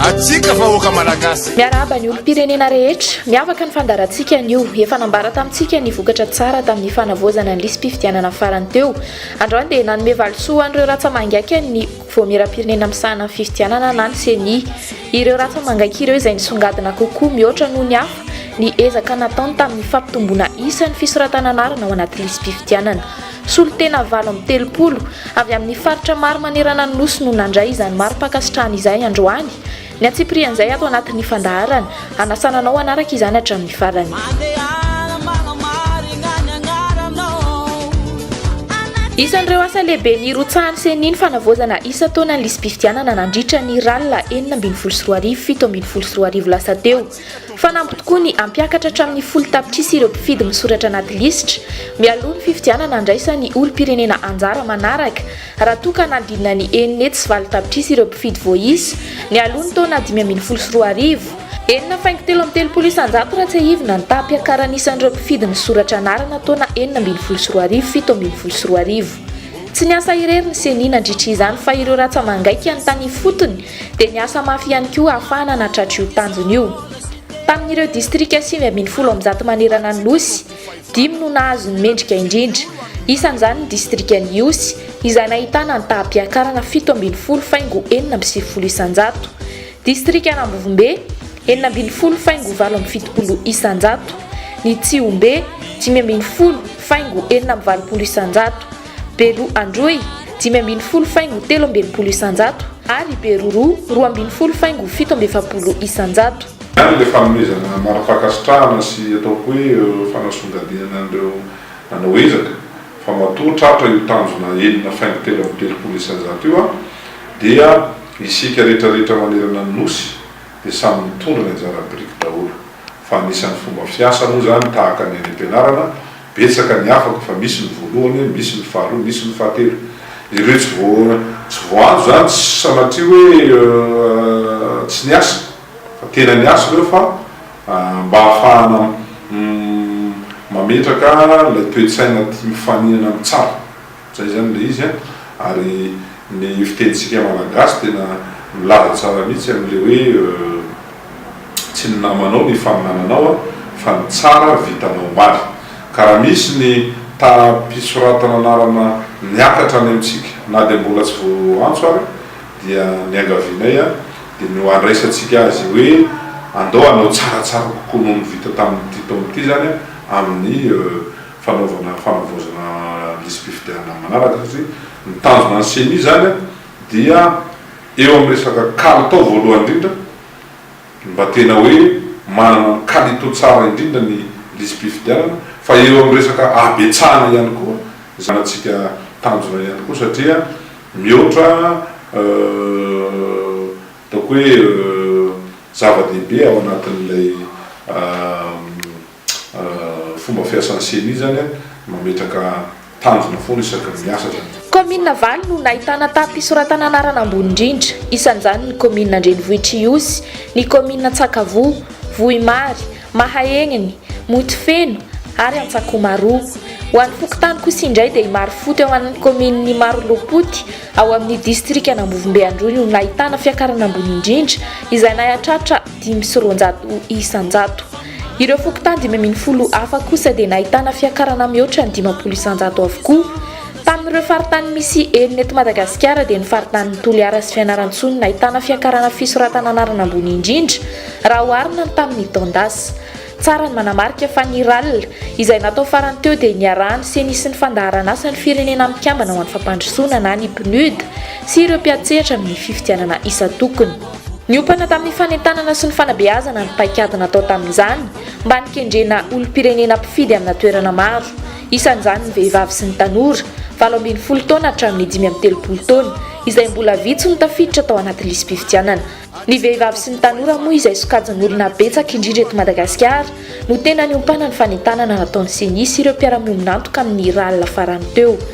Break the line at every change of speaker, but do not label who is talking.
atsika vahoaka malagasy miarahaba ny olom-pirenena
rehetra miavaka ny fandarantsika anio efa nambara tamintsika ny vokatra tsara tamin'ny fanavoazana ny lisy-pifidianana farany teo androany dia nanome valisoa an'ireo ratsa mangaika ny voamiram-pirenena misahana ny fifidianana na ny seni ireo ratsa mangaika ireo izay nisongadina kokoa mihoatra noho ny hafa ny ezaka nataony tamin'ny fampitomboana isan'ny fisoratananarana ao anaty lisy-pifidianana Solontena valo amby telopolo avy amin'ny faritra maro manerana ny Nosy no nandray izany mari-pankasitrahana izay androany. Ny antsipirihan'izay ato anatin'ny fandaharana, hanasana anao hanaraka izany hatramin'ny farany. Isan'ireo asa lehibe nirotsahan'ny Ceni ny fanavaozana isan-taona ny lisi-pifidianana nandritra ny rallye enina ambin'ny folo sy roa arivo, fito ambin'ny folo sy roa arivo lasa teo. Fanampy tokoa ny hampiakatra hatramin'ny folo tapitrisa ireo mpifidy misoratra anaty lisitra mialoha ny fifidianana handraisa ny olom-pirenena anjara manaraka, raha toa ka hanadinina ny enina hetsy sy valo tapitrisa ireo mpifidy voaisa nialoha ny taona dimy ambin'ny folo sy roa arivo. Enina faingo telo amby telopolo isan-jato raha tsiahivina ny taham-piakaran'isan'ireo mpifidy misoratra anarana taona enina ambin'ny folo sy roa arivo, fito ambin'ny folo sy roa arivo. Tsy niasa irery ny Ceni nandritra izany fa ireo ratsa-mangaika ny tany ifotony dia niasa mafy ihany koa ahafahana nahatratra io tanjona io. Tamin'ireo distrika sivy ambin'ny folo amin'ny zato manerana ny Nosy, dimy no nahazo ny mendrika indrindra, isan'izany ny distrikan'i Ihosy izay nahitana ny taham-piakarana fito ambin'ny folo faingo enina amby sivifolo isan-jato, distrikan'Ambovombe, enina ambin'ny folo faingo valo amby fitopolo isan-jato, ny Tsihombe, dimy ambin'ny folo faingo enina amby valopolo isan-jato, Beroa Androy, dimy ambin'ny folo faingo telo amby enimpolo isanjato, ary Beroroa, roa ambin'ny folo faingo fito amby efapolo isanjato. Ihany ilay fanomezana
marampankasitrahana sy ataoko hoe fanasongadinana an'ireo nanao ezaka, fa matoa tratra io tanjona enina faingo telo amby telopolo isanjato io an, dia isika retraretra manerana ny Nosy dia samy mitondra ny anjara biriky daholo, fa anisan'ny fomba fiasa moa izany tahaka ny any am-pianarana Betsaka ny afaka fa misy ny voalohany, misy ny faharoa, misy ny fahatelo. Ireo tsy tsy voahazo izany tsy sanatria hoe tsy niasa fa tena niasa ireo fa mba ahafahana mametraka ilay toe-tsaina tia mifaninana amin'ny tsara. Zay zany le izy an! Ary ny fitenintsika Malagasy tena milaza tsara mihitsy amin'le hoe tsy ny namanao no ifaninananao an! fa ny tsara vitanao omaly! Ka raha misy ny taham-pisoratana anarana niakatra any amintsika na dia mbola tsy voaantso ary dia niangavianay an! dia no andraisantsika azy hoe andao hanao tsaratsara kokoa noho ny vita tamin'ity taona ity zany an! amin'ny fanaovana fanavaozana lisi-pifidianana manaraka satria ny tanjona ny ceni izany dia eo amin'ny resaka kalitao voalohany indrindra mba tena hoe manana ny kalito tsara indrindra ny lisi-pifidianana fa eo amin'ny resaka habetsahana ihany koa izany antsika tanjona ihany koa satria mihoatra ataoko hoe zava-dehibe ao anatin'ilay Fomba fiasan'ny ceni izany an, mametraka tanjona foana isaky ny miasa zany. Kaominina valo no
nahitana taha-pisoratana anarana ambony indrindra, isan'izany ny kaominina Andrenivohitr'Ihosy, ny kaominina Antsakavoa, Vohimary, Mahaegniny, Montefeno ary Antsakomaroa. Ho an'ny fokontany kosa indray dia i Marofoty ao amin'ny kaominina Imarolopoty ao amin'ny distrikan'Ambovombe Androy no nahitana fiakarana ambony indrindra izay nahatratra dimy sy roanjato isanjato. Ireo fokontany dimy ambin'ny folo hafa kosa dia nahitana fiakarana mihoatra ny dimampolo isanjato avokoa. Tamin'ireo faritany misy enina eto Madagasikara dia ny faritanin'i Toliara sy Fianarantsoa no nahitana fiakarana fisoratana anarana ambony indrindra raha oharina ny tamin'ny taon-dasa. Tsara ny manamarika fa ny ral izay natao farany teo dia niarahan'ny Ceni sy ny Fandaharanasan'ny Firenena Mikambana ho an'ny Fampandrosoana na ny Pnud sy ireo mpiantsehatra amin'ny fifidianana isan-tokony. Niompana tamin'ny fanentanana sy ny fanabeazana ny paikady natao tamin'izany mba nikendrena olom-pirenena mpifidy amina toerana maro, isan'izany ny vehivavy sy ny tanora valo ambin'ny folo taona hatramin'ny dimy amby telopolo taona, izay mbola vitsy no tafiditra tao anaty lisi-pifidianana. Ny vehivavy sy ny tanora moa izay sokajin'olona betsaka indrindra eto Madagasikara no tena niompana ny fanentanana nataon'ny Ceni sy ireo mpiara-miombon'antoka amin'ny rallye farany teo.